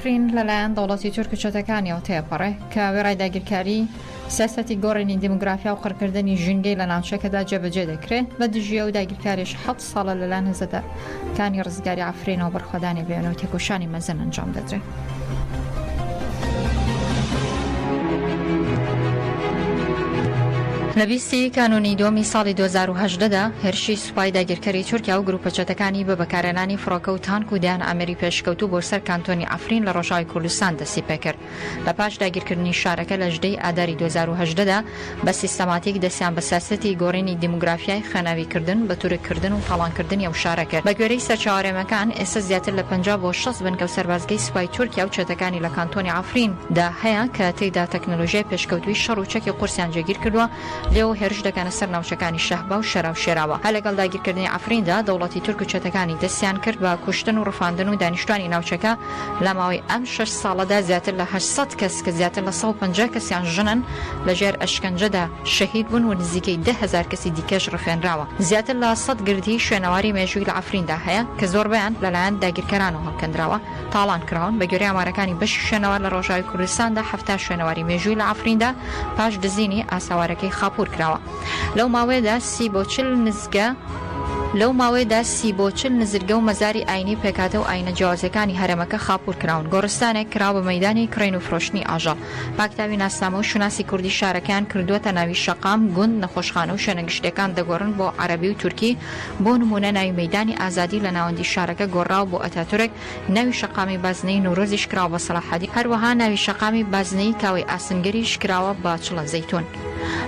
کرین لە لایەن دەوڵەتی تورک و چەتەکانیەوە تێپەڕێ کە وێڕای داگیرکاری، سیاسەتی گۆڕینی دیمۆگرافیا و قڕکردنی ژینگەی لە ناوچەکەدا جێبەجێ دەکرێ، بە دژی ئەو داگیرکاریەش حەفت ساڵە لە لایەن هزە کانی ڕزگاری عەفرینەوە بەرخۆدانی بەێنە و تێکۆشانی مەزن ئەنجام دەدرێ. لە بیست ی کانوونی دووەمی ساڵی دوو هەزار و هەژدە دا هێرشی سوپای داگیرکەری تورکیا و گروپە چەتەکانی بە بەکارهێنانی فڕۆکە و تانک و دەیان ئامێری پێشکەوتوو بۆ سەر کانتۆنی عەفرین لە ڕۆژاوای کوردستان دەستی پێکرد. لە پاش داگیرکردنی شارەکە لە ژدەی ئاداری دوو هەزار و هەژدە دا، بە سیستەماتیک دەستیان بە سیاسەتی گۆڕینی دیموگرافیای، خوێناویکردن، بەتورککردن و تاڵانکردنی ئەو شارە کرد. بەگوێرەی سەرچاوەرێمەکان، ئێستا زیاتر لە پەنجا بۆ شەست بنکە و سەربازگەی سوپای تورکیا و چەتەکانی لە کانتۆنی عەفرین دا هەیە کە تێیدا تەکنەلۆژیای پێشکەوتووی شەڕ و چەکی قورسیان جێگیرکردووە، لێو هێرش دەکەنە سەر ناوچەکانی شەهبا و شەرا و شێراوە. هەر لەگەڵ داگیرکردنی عەفریندا، دەوڵەتی تورک و چەتەکانی دەستیان کرد بە کوشتن و ڕفاندن و دانیشتوانی ناوچەکە لە ماوەی ئەم شەش ساڵەدا زیاتر لە هەشت سەد کەس کە زیاتر لە سەد و پەنجا کەسیان ژنن لە ژێر ئەشکەنجەدا شەهید بوون و نزیکەی دە هەزار کەسی دیکەش ڕفێنراوە. زیاتر لە سەد گردی شوێنەواری مێژووی لە عەفریندا هەیە کە زۆربەیان لەلایەن داگیرکەرانەوە هەڵکەندراوە. تاڵان کراون، بەگوێرەی ئامارەکانی بەشی شوێنەوار لە ڕۆژاوی کوردستاندا حەفتا شوێنەواری مێژووی لە عەفریندا پاش دزینی ئاساوارەکەی خاپوور کراوە لەو ماوەیەدا سی بۆ چل نزگە لەو ماوەیەدا سی بۆ چل نزرگە و مەزاری ئاینی و پێکهاتە و ئاینە جیاوازەکانی هەرێمەکە خاپوور کراون گۆڕستانێک کرا بە مەیدانی کڕین و فرۆشتنی ئاژەڵ پاکتاوی ناسنامە و شوناسی کوردی شارەکەیان کردووەتە ناوی شەقام گوند نەخۆشخانە و شوێنە گشتیەکان دەگۆڕن بۆ عەرەبی و تورکی بۆ نموونە ناوی مەیدانی ئازادی لە ناوەندی شارەکە گۆڕراوە بۆ ئەتاتورک، ناوی شەقامی بازنەیی نەورۆزیش کراوە بە سەڵاحەدین، هەروەها ناوی شەقامی بازنەیی کاوەی ئاسنگەریش کراوە بە چڵە زەیتون.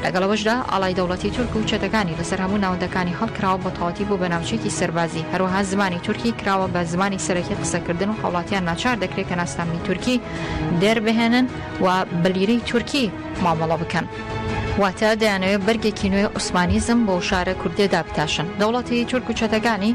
لەگەڵ ئەوەشدا ئاڵای دەوڵەتی تورک و چەتەکانی لەسەر هەموو ناوەندەکانی هەڵکراوە بە تەواتی بۆ بە ناوچەیەکی سەربازی، هەروەها زمانی تورکی کراوە بە زمانی سەرەکی قسەکردن و هاوڵاتیان ناچار دەکرێت کە ناسنامەی تورکی دەربهێنن و بە لیرەی تورکی مامەڵە بکەن. واتە دەیانەوێت بەرگێکی نوێی عوسمانیزم بۆو شارە کوردیە دابتاشن، دەوڵەتی تورک و چەتەکانی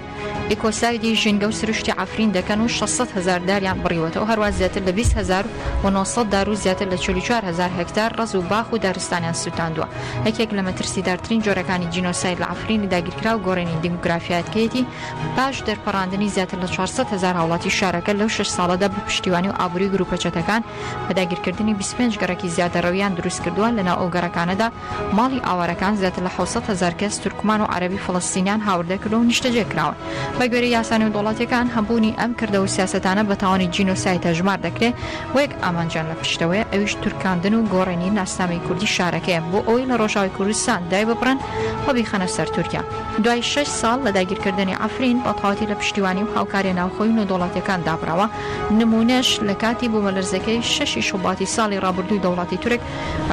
ئیکۆسایدی ژینگە و سروشتی عەفرین دەکەن و شەش سەد هەزار داریان بڕیوەتەوە هەروا زیاتر لە بیست هەزار و نۆ سەد دار و زیاتر لە چل و چوار هەزار هێکتار ڕەز و باخ و دارستانیان سوتاندوە یەکێک لە مەترسیدارترین جۆرەکانی جینۆساید لە عەفرینی داگیرکراو گۆرینی دیموگرافیاتکەیەتی پاش دەرپەڕاندنی زیاتر لە چوار سەد هەزار هاوڵاتی شارەکە لەو شەش ساڵەدا بە پشتیوانی و ئابوری گروپە چەتەکان بە داگیرکردنی بیست و پێنج گەڕەکی زیادەڕەوییان دروستکردووە، لەناو ئەو گەڕەکانەدا ماڵی ئاوارەکان زیاتر لە حەوت سەد هەزار کەس تورکمان و عەرەبی فەڵەستینیان هاوردەکردووە و نیشتەجێکراون. بەگوێرەی یاسا نێودەوڵەتییەکان هەبوونی ئەم کردە و سیاسەتانە بە تاوانی جینۆساید هەژمار دەکرێ و یەک ئامانجیان لە پشتەوەیە ئەویش تورکاندن و گۆڕێنی ناسنامەی کوردی شارەکەیە بۆ ئەوەی لە ڕۆژاوای کوردستان دایببڕن و بیخەنە سەر تورکیا. دوای شەش ساڵ لە داگیرکردنی عەفرین بەتەواوەتی لە پشتیوانی و هاوکارییە ناوخۆی و نێودەوڵەتییەکان دابڕاوە، نموونەش لە کاتی بوومەلەرزەکەی شەشی شوباتی ساڵی ڕابردوو دەوڵەتی تورک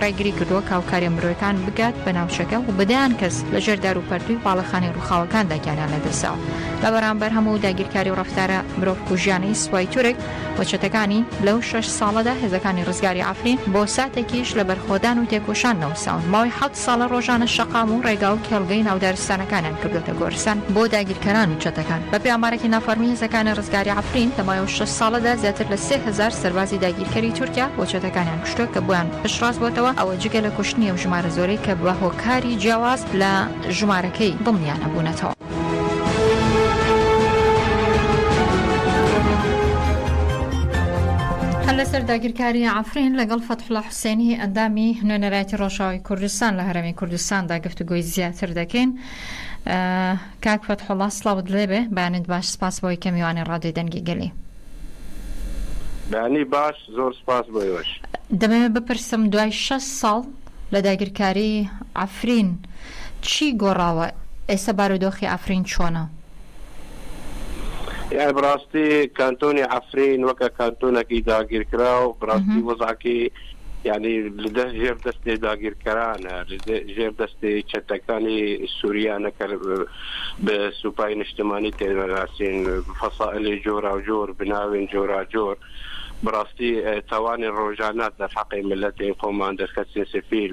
ڕێگری کردووە کاوکاریە مرۆیەکان بگات بە ناوچەکە و بە دەیان کەس لە ژێر دار و پەرتووی باڵەخانەی ڕووخاوەکاندا گیانیان لەدەستداوە لە بەرامبەر هەموو داگیرکاری و ڕەفتارە مرۆڤ کوژیانەی سوپای تورک و چەتەکانی لەو شەش ساڵەدا هێزەکانی ڕزگاری عەفرین بۆ ساتێکیش لە بەرخۆدان و تێکۆشان نەوەستاون ماوەی ساڵە ڕۆژانە شەقام و ڕێگا و کێڵگەی ناو دارستانەکانیان کردووەتە گۆرستان بۆ داگیرکەران و چەتەکان. بەپێی ئامارێکی نافەڕمی هێزەکانی ڕزگاری عەفرین، لە ماوەی شەش ساڵەدا زیاتر لە سێ هەزار سەربازی داگیرکەری تورکیا بۆ چەتەکانیان کوشتووە کە بۆیان پشتڕاست بووەتەوە، ئەوە جگە لە کوشتنی ئەو ژمارە زۆرەی کە بە هۆکاری جیاواز لە ژمارەکەی دڵنیا نەبوونەتەوە. هەر لەسەر داگیرکاری عەفرین لەگەڵ فەتحوڵا حسێنی، ئەندامی نوێنەرایەتی ڕۆژئاوای کوردستان لە هەرێمی کوردستاندا گفتوگۆی زیاتر دەکەین. کاک فەتحوڵا سڵاوت لێبێ، بەیانیت باش، سپاس بەوەی کە میوانی ڕادیۆی دەنگی گەلی. بەیانی باش، زۆر سپاس بۆ ئێوەش. دەمەوێت بپرسم دوای شەست ساڵ لە داگیرکاریی عەفرین چی گۆڕاوە؟ ئێستا بارودۆخی عەفرین چۆنە؟ یانی بەڕاستی کانتۆنی عەفرین وەکە کانتۆنەکی داگیرکراو بڕاستی وەزعکی یعنی لەدە ژێر دەستێ داگیرکەرانە ژێر دەستی چەتەکانی سووریانە کە بە سوپای نیشتمانی تێناسین فەسائلی جۆرا و جۆر بناوێن جۆرا جۆر بڕاستی تاوانی ڕۆژانە دەرحەقی ملەتی خۆمان دەرخەسین سفیل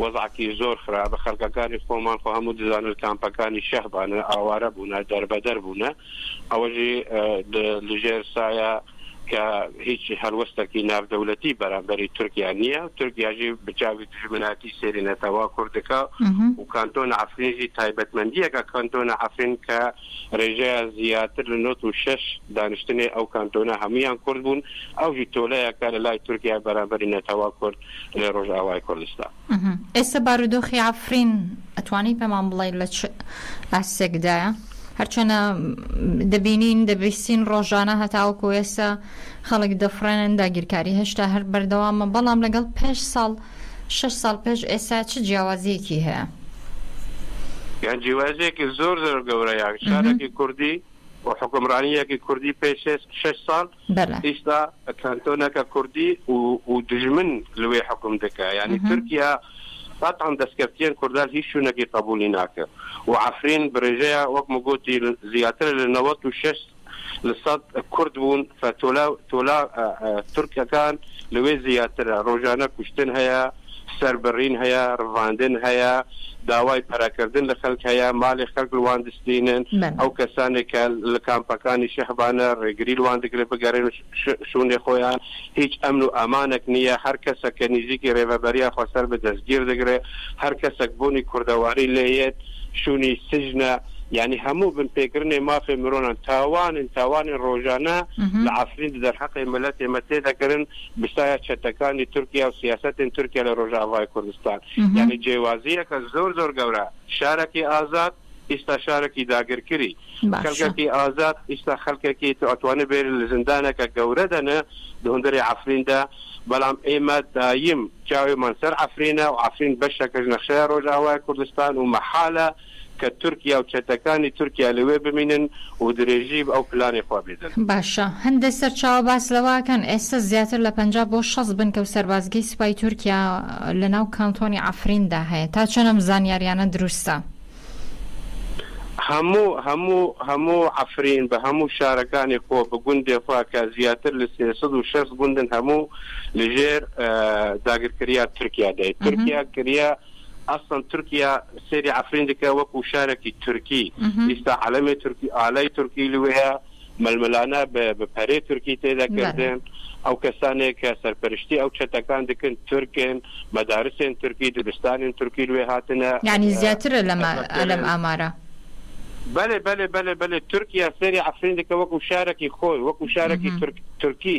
وەزعەکی زۆر خراپە خەلکەکانی خۆمان خۆ هەموو دەزانن کامپەکانی شەهبانە ئاوارە بوونە دەربەدەر بوونە ئەوەژی لژێر سایە کە هیچ هەلوەستەکی ناودەولەتی بەرامبەری تورکیا نییە تورکیاژی بچوی دژمناتی سێری نەتەوا کوردەکە و کانتۆن ئەفرینژی تایبەتمەندیەکە کانتۆنە ئەفرین کە ڕێژەیە زیاتر لە 96 دانیشتنی ئەو کانتۆنە هەمویان کورد بوون ئەوژی تۆلەیەکە لە لای تورکیا بەرامبەری نەتەوا کورد لە ڕۆژئاوای کوردستان. ئێستا بارودۆخی عەفرین ئەتوانی پێمان بڵێی لە چ ئاستێکدایە؟ هەرچەنە دەبینین دەبیستین ڕۆژانە هەتاوەکو ئێستا خەڵک دەفڕێنن داگیرکاری هێشتا هەر بەردەوامە بەڵام لەگەڵ پێش ساڵ شش ساڵ پێش ئێستا چ جیاوازیەکی هەیە؟ یان جیوازێکی زۆر زۆر گەورەیان شارێکی کوردی و حکمڕانیەکی کوردی پێش شش ساڵ بەلە. ئیستا کانتۆنەکە کوردی و و دوژمن لوێ حوکم دکا یانی تورکیا قەتعەن دەسکەفتیەن کوردان هیچ شونەکی قەبولی ناکە و عەفرین برێژەیا وەک مگۆتی زیاترە لە نەوەت و شەش لە سەد کورد بون فە تۆلا تۆلا تورکەکان لوێ زیاترە رۆژانە کوشتن هەیە سەربڕین هەیە، ڕڤاندن هەیە، داوای پەرەکردن لە خەلک هەیە، مالی خەلک لوان دستینن، ئەو کەسانێک کە لە کامپەکانی شەهبانە ڕێگری لوان دکرێت بگەرێن شونێ خۆیان، هیچ ئەمن و ئامانەک نییە، هەر کەسەک کە نیزیکی ڕێڤەبەریا خۆ سەر بە دەسگیر دکرێت، هەر کەسەک بونی کوردەواری لێ یەت شونی سجنە، یانی هەموو بن پێکرنێ مافێ مرۆنان تاوانن، تاوانێ ڕۆژانە لە عەفرین ددەرحەقێ ملەتێ مە تێ دەکرن. بسایە چەتەکانی تورکیا و سیاسەتین تورکیا لە ڕۆژاڤای کوردستان یعنی جێوازیەکە زۆر زۆر گەورە شارەکی ئازاد ئیستا شارەکی داگرکری خەلکەکی ئازاد ئیستا خەلکەکی توانێ بێر لە زندانەکە گەورە دەنە دهندری عفریندا بەڵام ئێمە دایم چاوێمان سەر عفرینە و عفرین بەشەکەش نەخشەیە ڕۆژاوای کوردستان و مەحالە کە تورکیا و چەتەکانی تورکیا لەوێ بمینن و درێژی ئەو پلانەی خۆ بدەن. باشە هەندێ سەرچاوە باس لەوەکەن ئێستە زیاتر لە پەنجا بۆ شەست بنکە و سەربازگەی سوپای تورکیا لە ناو کانتۆنی عەفریندا هەیە، تا چەند ئەم زانیاریانە دروستە؟ هەموو هەموو هەموو عەفرین بە هەموو شارەکانی خۆ بە گوندێ خۆ کە زیاتر لە سێ سەد و شەست گوندن هەموو لە ژێر داگرکریا تورکیا دای تورکیا کریا. ئەسڵەن تورکیا سەیری عەفرین دکە وەکو شارەکی تورکی ئیستا عەلەمێ تورکی ئالای تورکی لوەیە مەلمەلانە بە پەرێ تورکی تێدەکردن ئەو کەسانێک کە سەرپەرشتی ئەو چەتەکان دکن تورکن مەدارسێن تورکی دبستانین تورکی لوێ هاتنە ینی زیاترە لەمە ئەلم ئامارە. بەێ بەێ بەێ بەێ تورکیا سەری عفرین دکە وەکو شارەکی خۆی وەکو شارەکی تورکی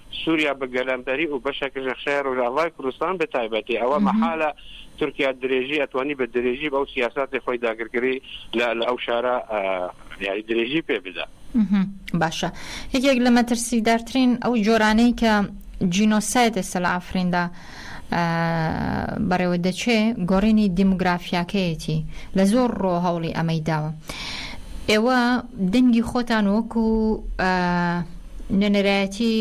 سوریا بە گەلەمپەری و بەشەکەش لە قشای رۆژئاڤای کوردستان بە تایبەتی، ئەوە مەحالە تورکیا درێژی ئەتوانی بە درێژی بەو سیاساتی خۆی داگرکەری لە لە ئەو شارە یاری درێژی پێ بدا. باشە یەکێک لە مەترسیدارترین ئەو جۆرانەی کە جینۆسایدە سەلافریندا. بەڕێوە دەچێ گۆڕینی دیموگرافیاکەیەتی لە زۆر ڕۆ هەوڵی ئەمەی داوە ئێوە دەنگی خۆتان وەکو نوێنەرایەتی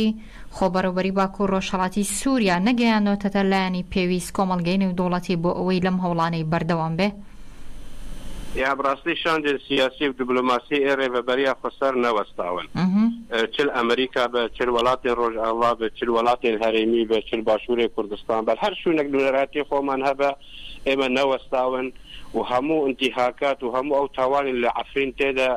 خۆبەڕێوبەری باکو و ڕۆژهڵاتی سووریا نەگەیانەوەتەتە لایەنی پێویست کۆمەڵگەی نێودوڵەتی بۆ ئەوەی لەم هەوڵانەی بەردەوام بێ؟ یا بڕاستی شاندێ سیاسی و دبلۆماسی ئێرێ بە بەریا خۆ سەر نەوەستاون. چل ئەمریکا بێ، چل وەلاتێن ڕۆژئاڤا بێ، چل وەلاتێن هەرێمی بێ، چل باشوورێ کوردستان بێ، هەر شوونێک نوێنەرایەتی خۆمان هەبێ، ئێمە نەوەستاون و هەموو ئنتیهاکات و هەموو ئەو تاوانێ لە عەفرین تێدا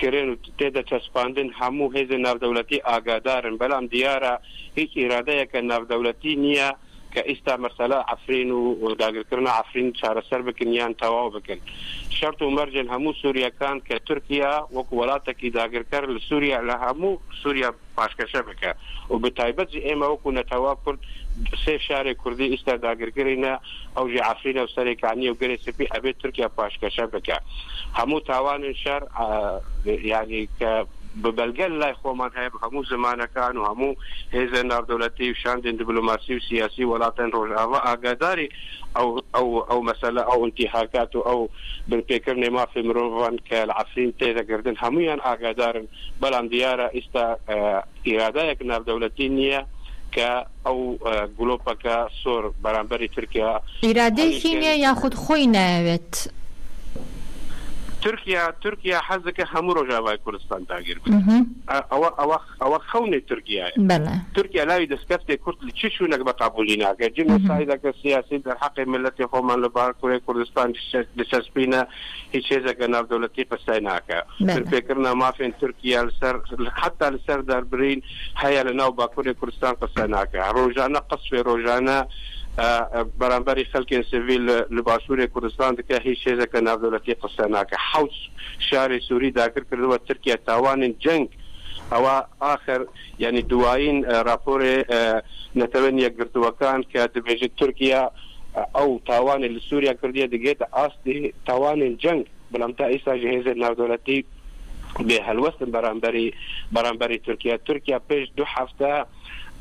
کرێن و تێدا چەسپاندن هەموو هێزێ ناودەولەتی ئاگادارن، بەلام دیارە هیچ ئیرادەیەکە ناودەولەتی نییە. کە ئیستا مەسەلە عەفرین و داگرکرنا عەفرین چارەسەر بکن یان تەواو بکن شەرت و مەرجن هەموو سوریەکان کە تورکیا وەکو وەلاتەکی داگرکەر لە سوریا لە هەموو سوریا پاشکەشە بکە و بەتایبەت جی ئێمە وەکو نەتەوە کورد سێ شارێ کوردی ئیستا داگرکرینە ئەو جی عەفرینە و سەرێ کانی و گەرێ سپی ئەبێت تورکیا پاشکەشە بکە هەموو تاوانن شەر یانی کە بە بەلگە لای خۆمان هەیە بە هەموو زمانەکان و هەموو هێزە ناودەولەتی و شاندێن دبلۆماسی و سیاسی وەلاتن رۆژئاڤا ئاگاداری ئەو ئەو ئەو مەسەلە ئەو ئنتیهاکات و ئەو بن پێ کردنێ مافێ مرۆڤان کە لە عەفرین تێ دەگردن هەموویان ئاگادارن بەلام دیارە ئیستا ئیرادایەک ناودەولەتی نیە کە ئەو گلۆپەکە سۆر بەرامبەری ترکیا ئیرادەیەکی نیە یاخود خۆی نایەوێت؟ ترکیا ترکیا حەزەکە هەموو ڕۆژاڤای کوردستان داگیر بکات ئەوە ئەوە ئەوە خەونی ترکیایە بەلە ترکیا لاوی دەسکەفتێ کورد لە چی چوونەک بە قابولی ناکە جنە سایدەکە سیاسی دەر حەقی ملەتی خۆمان لە بار کورێ کوردستان دچەسپینە هیچ هێزەکە ناو دەولەتی قسای ناکە پێکردنا مافێن ترکیا لەسەر حتا لەسەر دەربرین هەیە لە ناو باکوری کوردستان قسە ناکا ڕۆژانە قەسفێ ڕۆژانە بەرامبەری خەلکێن سڤیل لە باشوری کوردستان دکە هیچ هێزەکە ناودەولەتی قسە ناکە حەوت شاری سوری داگر کردوە ترکیە تاوانین جەنگ ئەوە ئاخر یعنی دوایین ڕاپۆرێ نەتەوە یەکگرتوەکان کە دبێژێت ترکیە ئەو تاوانی لە سوریا کردیە دگێتە ئاستی تاوانین جەنگ بەڵام تا ئیستا ژە هێزە ناودەولەتی بێ هەلوەستن بەرامبەری بەرامبەری تورکیا تورکیا پێش دو هەفتە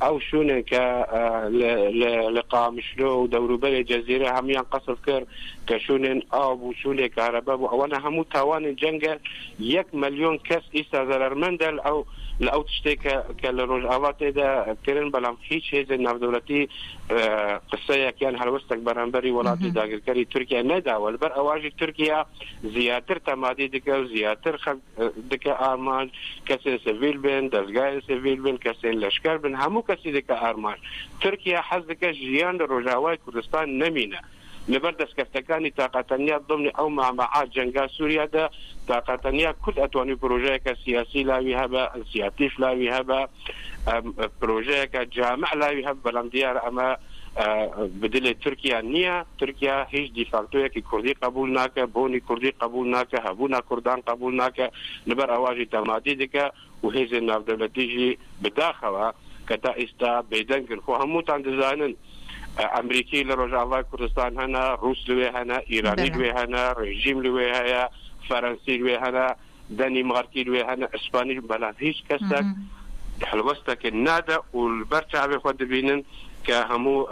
ئەو شوێنێن کە لە قامشلۆ و دەوروبەری جەزیرە هەمویان قەسف کرد کە شوێنێن ئاو بوو شوێنێ کارەبە بوو ئەوەنە هەموو تاوانی جەنگە یەک ملیۆن کەس ئیستا زەرەرمەندە ئەو لە ئەو تشتێک کە لە ڕۆژئاوا تێدا کرن بەڵام هیچ هێزە ناودەولەتی قسەیەکیان هەلوەستەک بەرامبەری وڵاتی داگرکەری تورکیا نەداوە لەبەر ئەواژی تورکیا زیاتر تەمادی دکە و زیاتر خەلک دکە ئارمانج کەسێن سڤیل بێن دەزگایێن سڤیل بن کەسێن لەشکەر بن هەموو کەسی دکە ئارمانج تورکیا حەز دکە ژیان لە رۆژئاوای کوردستان نەمینە لەبەر دەسکەفتەکانی تاقە تەنیا دمنی ئەو مامەعە جەنگا سوریا دە تاقە تەنیا کورد ئەتوانی پرۆژەیەکە سیاسی لاوی هەبە سیاتیش لاوی هەبە پرۆژەیەکە جامع لاوی هەب بەلام دیار ئەمە بدلێ تورکیا نییە تورکیا هیچ دیفاکتۆیەکی کوردی قبول ناکە بۆنی کوردی قبول ناکە هەبوونا کوردان قبول ناکە لەبەر ئەواژی تەمادی دکە و هێزێ ناودەولەتیژی بداخەوە کە تا ئیستا بێدەنگن خۆ هەمووتان دەزانن ئەمریکی لە ڕۆژاوای کوردستان هەنا ڕوس لێ هەنا ئیرانی لێ هەنا ڕێژیم لێ هەیە فەرەنسی لێ هەنا دەنیمارکی لوێ هەنە ئیسپانیش بەلام هیچ کەسەک هەڵوەستەکن نادە و بەر چاوێ خۆ دەبینن کە هەموو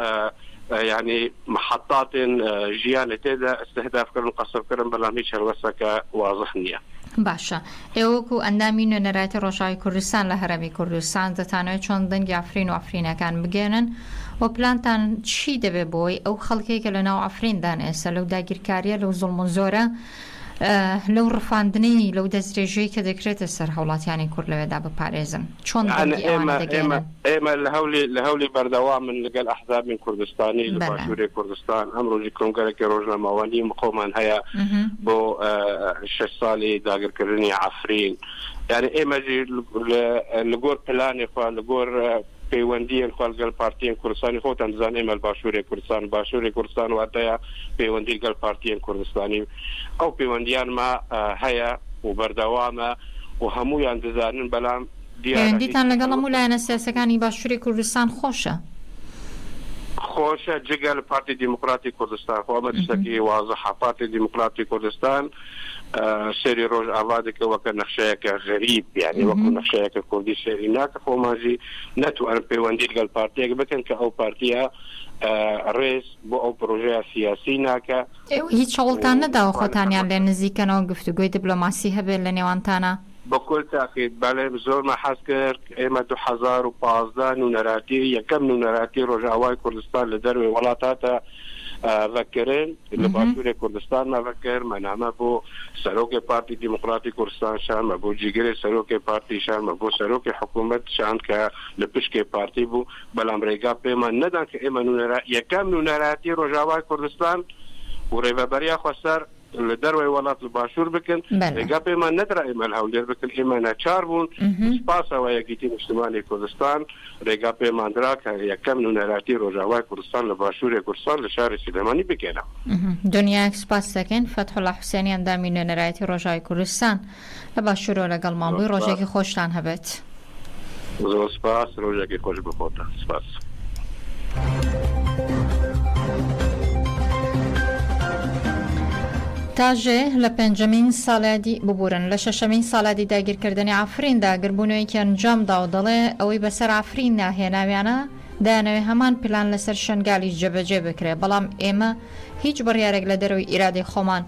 یعنی محەتاتێن ژیانە تێدا استهدافکردن و قەسفکردن بەلام هیچ هەڵوەستەکە وازح نییە. باشە ئێوە وەکو ئەندامی نوێنەرایەتی ڕۆژاوی کوردستان لە هەرێمی کوردستان دەتانەوێت چۆن دەنگی عەفرین و عەفرینەکان بگەیەنن و پلانتان چی دەبێت بۆ ئەوەی ئەو خەڵکەی کە لەناو عەفریندا نێسە لەو داگیرکارییە لەو زوڵم و زۆرە لەو ڕفاندنەی، لەو دەستدرێژیەی کە دەکرێتە سەر هەوڵاتیانی کورد لەوێدا بپارێزن؟ چۆن دەنگی ئەوانە دەگەیەنن؟ ئێمە لە هەولی لە هەولی بەردەوامن لەگەل ئەحزابین کوردستانی لە باشوری کوردستان ئەم ڕۆژی کۆنگەرەکی ڕۆژنامەوانی مقۆمان هەیە بۆ شش سالی داگرکردنی عفرین یعنی ئێمەژی لە گۆر پلانی خوا لە گۆر پەیوەندیێن خۆ لگەل پارتیێن کوردستانی خۆتان دزان ئێمە باشوورێ کوردستان باشوورێ کوردستان واتەیە پەیوەندی لگەل پارتیێن کوردستانی ئەو پەیوەندیان ما هەیە و بەردەوامە و هەموویان دزانن بەلام پەیوەندیتان لەگەڵ هەموو لایەنە سیاسەکانی باشووری کوردستان خۆشە؟ خۆشە جگە لە پارتی دیموکراتی کوردستان خۆ ئەمە شتەکی وازحە پارتی دیموکراتی کوردستان سەری ڕۆژ ئاوا دەکەوەکە نەخشەیەکە غەریب بیانی وەکو نەخشەیەکە کوردی سەری ناکە خۆمانزی نەتوانم پەیوەندی لەگەڵ پارتێک بکەن کە ئەو پارتیە ڕێز بۆ ئەو پرۆژەیە سیاسی ناکە هیچ چاوڵتان نەداوە خۆتانیان لێ نزیکەنەوە گفتوگوی دیبلۆماسی هەبێت لە نێوانتانە؟ بەکۆل تاقیت بەڵێ زۆر مە حەز کرد ئێمە دوو هەزار و پازدە نونەراتی یەکەم نونەراتی ڕۆژئاوای کوردستان لە دەروێ وڵات هاتە ڤەکرن لە باشوورێ کوردستان مەڤەکر مەنامە بۆ سەرۆکێ پارتی دیموکراتی کوردستان شانمە بۆ جیگرێ سەرۆکێ پارتی شانمە بۆ سەرۆکی حکوومەت شان کە لە پشکێ پارتی بوو بەڵام ڕێگا پێمان نەدان کە ئێمە نونەرا یەکەم نونەراتی ڕۆژاوای کوردستان و ڕێڤەبەریا خۆسەر لە دەروای وەلات لە باشوور بکەن ێگا پێمان نەدرا ئێمە لە هەولێر بکەن ئێمە ناچار بوون پاسەوە یەکیتی نیشتمانی کوردستان ێگا پێماندرا کە یەکەم نونەراتی ڕۆژاوای کوردستان لە باشوورێ کوردستان لە شاری سلێمانی بکەێنە دنیاەک سپاس دەکەین فەتحڵە حوسێنیان دامی نوێنەرایەتی ڕۆژاوی کوردستان لە باشورەوە لەگەڵمان بووی ڕۆژێکی خۆشتان هەبێت. زۆر سپاس ڕۆژێکی خۆش بۆ خۆتان سپاس. تاژێ لە پێنجەمین سالادی ببورن لە شەشەمین سالادی داگیرکردنی عفرین دا گربوونەوەیکی ئەنجام دا و دەڵێ ئەوەی بەسەر عفرین ناهێناویانە دایانەوێ هەمان پلان لەسەر شەنگالیش جێبەجێ بکرێ بەڵام ئێمە هیچ بڕیارێک لە دەرەوەی ئیرادەی خۆمان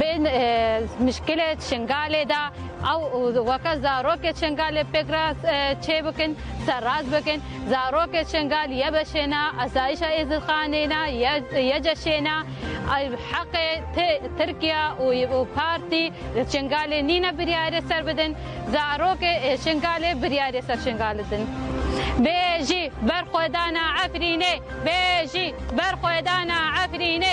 بن مشکلە شنگالێ دا ئەو وەکە زارۆکێ شنگالێ پێک راست چێ بکن سەر راست بکن زارۆکێ شنگال یە بەشێنا ئەسایشە ئێزدخانێنا یە جەشێنا حەقێ ترکیا و پارتی شنگالێ نینە بریارێ سەر بدن زارۆکێ شنگالێ بریارێ سەر شنگال بدن بێژی بەرخۆدانا عەفرینێ بێژی بەرخۆدانا عەفرینێ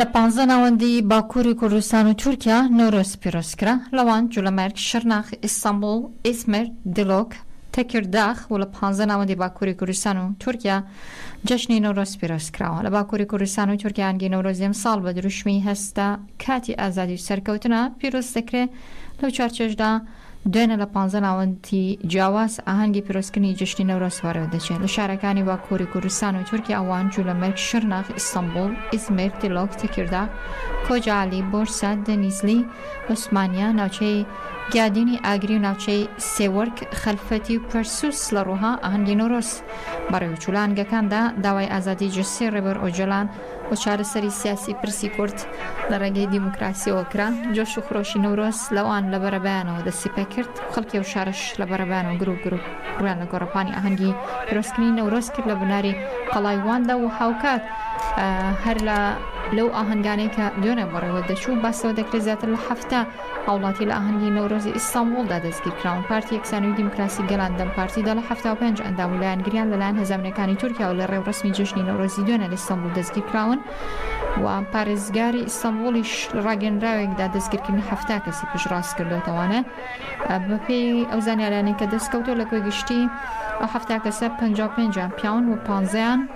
لە پانزە ناوەندی باکووری کوردستان و تورکیا نۆرۆز پیرۆز کرا، لەوان، جولەمەرگ، شرناخ، ئیستەنبوڵ، ئیزمر، دیلۆک، تەکیرداخ و لە پانزە ناوەندی باکووری کوردستان و تورکیا جەژنی نۆرۆز پیرۆز کراوە. لە باکووری کوردستان و تورکیا ئانگی نەورۆزی ئەمساڵ بە دروشمی هەستە کاتی ئازادی و سەرکەوتنە پیرۆز دەکرێ، لەو چوارچێژدا، دوێنێ لە پانزە ناوەندی جیاواز ئاهەنگی پیرۆزکردنی جەژنی نەورۆز بەڕێوەدەچێت لە شارەکانی باکووری کوردستان و تورکیا وان، جولەمەرگ، شرناخ، ئیستەنبووڵ، ئیزمیر، دیلۆک، تەکیرداغ، کۆجائەلی، بۆرسە، دەنیزلی، عوسمانیە، ناوچەی گیادینی ئاگری و ناوچەی سێوەرک، خەلفەتی و پەرسوس لە ڕووها ئاهەنگی نەورۆز بەڕێوەچوو لە ئاهەنگەکاندا داوای ئازادی جەستەی ڕێبەر ئۆجەلان و چارەسەری سیاسی پرسی کورد لە ڕێگەی دیموکراسیەوە کرا، جۆش و خرۆشی نەورۆز لەوان لە بەرەبەیانەوە دەستی پێکرد، خەڵکی ئەو شارەش لە بەرەبەیانەوە گروپ گروپ ڕوویان لە گۆڕەپانی ئاهەنگی پیرۆزکردنی نەورۆز کرد لە بناری قەڵای واندا و هاوکات هەر لە لەو ئاهەنگانەی کە دوێنێ بەڕێوەدەچوو باسەوە دەکرێت زیاتر لە حەفتا هاوڵاتی لە ئاهەنگی نەورۆزی ئیستانبوڵدا دەستگیرکراون پارتی یەکسانی و دیموکراسی گەلان، دەم پارتی، دا لە حەفتا و پێنج ئەندام و لایەنگریان لەلایەن هەزانەکانی تورکیاوە لە ڕێوڕەسمی جەژنی نەورۆزی دوێنێ لە ئیستانبوڵ دەستگیرکراون و پارێزگاری ئیستانبوڵیش لە ڕاگەیەنراوێکدا دەستگیرکردنی حەفتا کەسی پشتڕاست کردۆتەوانە بەپێی ئەو زانیاریانەی کە دەستکەوتووە لە کۆی گشتی ئەو حەفتا کەسە پەنجا و پێنجیان پیاون و پانزەیان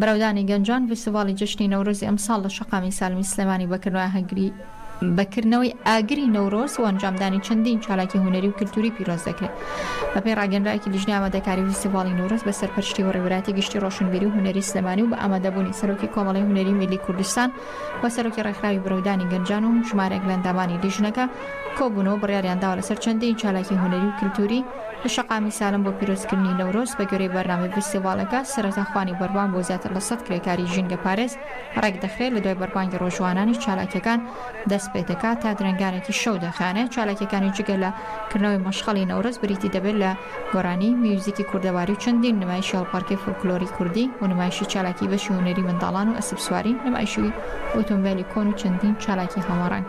بەرەودانی گەنجان، ڤیستیڤاڵی جەژنی نەورۆزی ئەمساڵ لە شەقامی سالمی سلێمانی بە کردنەوەی ئاگری نەورۆز و ئەنجامدانی چەندین چالاکی هونەری و کلتوری پیرۆز دەکرێت. بەپێی راگەنراوێکی لیژنەی ئامادەکاری ڤیستیڤاڵی نەورۆز بە سەرپەرشتی وەڕیوبەرایەتی گشتی رۆشنبیری و هونەری سلێمانی و بە ئامادەبوونی سەرۆکی کۆمەڵەی هونەری میللی کوردستان و سەرۆکی رێکخراوی بەرەودانی گەنجان و ژمارەیەک لە ئەندامانی لیژنەکە کۆبوون و بڕیاریان داوە لەسەر چەندین چالاکی هونەری و کلتوری لە شەقامی سالم بۆ پیرۆزکردنی نەورۆز، بەگوێرەی بەرنامەی ڤیستیڤاڵەکە، سەرەتا خوانی بەربانگ بۆ زیاتر لە سەد کرێکاری ژینگەپارێز ڕێکدەخرێت، لەدوای بەربانگی ڕۆژوانانیش چالاکییەکان دەستپێدەکات، تا درەنگانێکی شەو دەخایەنێت، چالاکییەکانی جگە لە کردنەوەی مەشخەڵی نەورۆز بریتی دەبێت لە گۆرانی، میوزیکی کوردەواری و چەندین نمایشی هەڵپەڕکێی فۆلکلۆری کوردی و نمایشی چالاکی بەشی هونەری منداڵان و ئەسپسواری، نمایشی ئۆتۆمبێلی کۆن و چەندین چالاکی هەمەڕەنگ.